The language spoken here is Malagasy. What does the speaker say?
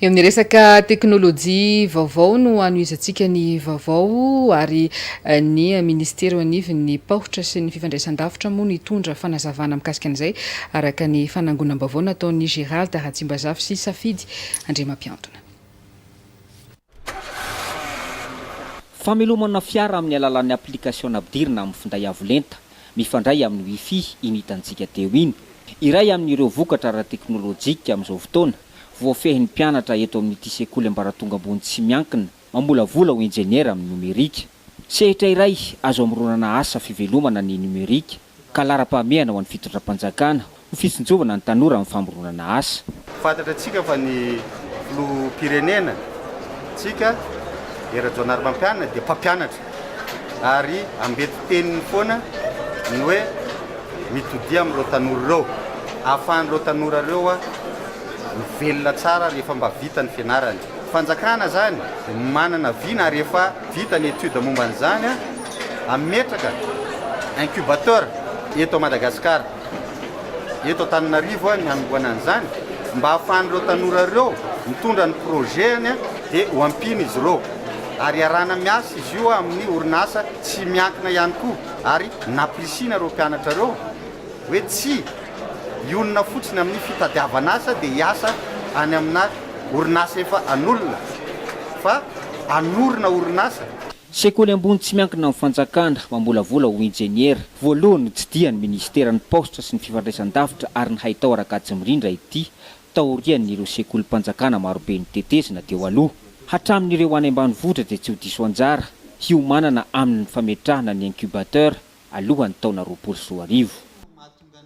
Eo amin'ny resaka teknolojia vaovao no hanohizantsika ny vaovao ary eh, ny ministera eo anivon'ny paohitra sy ny fifandraisan-davitra moa no hitondra fanazavana mikasika an'izay araka ny fanangonam-baovao nataon'i Gérald Ratsimbazafy sy Safidy Andriamampiantona. Famelomana fiara amin'ny alalan'ny aplikasiona ampidirina amin'ny finday avo lenta mifandray amin'ny Wi-Fi iny hitantsika teo iny. Iray amin'ireo vokatra ara-teknolojika amin'izao fotoana voafehin'ny mpianatra eto amin'ity sekoly ambaratonga ambony tsy miankina mamolavola ho injeniera amin'ny nomerika. Sehatra iray azo amoronana asa fivelomana ny nomerika ka laharam-pahamehana ho an'ny fitondram-panjakana ho fitsinjovana ny tanora amin'ny famoronana asa. Fantatra antsika fa ny Filoham-pirenena ntsika dia Rajaonarimampianina dia mpampianatra ary ambety teniny foana ny hoe mitodia amin'ireo tanora ireo ahafahan'ireo tanora ireo mivelona tsara rehefa mba vita ny fianarany. Fanjakana zany manana vina ary efa vita ny étude momba an'izany hametraka incubateur eto Madagascar eto Antananarivo ny hanombohana an'izany mba hahafahan'ireo tanora ireo mitondra ny projet-ny dia ho ampiana izy ireo ary iarahana miasa izy io amin'ny orinasa tsy miankina ihany koa ary nampirisihina ireo mpianatra ireo Hoe tsia, hionona fotsiny amin'ny fitadiavan'asa dia hiasa any amina orinasa efa an'olona, fa hanorina orinasa. Sekoly ambony tsy miankina amin'ny fanjakana, mamolavola ho injeniera. Voalohany notsidihany minisiteran'ny paositra sy ny fifandraisan-davitra ary ny haitao Rakajimirindra ity taorian'ireo sekolim-panjakana marobe notetezina teo aloha. Hatramin'ireo any ambanivohitra dia tsy ho diso anjara hiomanana aminy ny fametrahana ny incubateur alohan'ny taona roapolo sy roa arivo.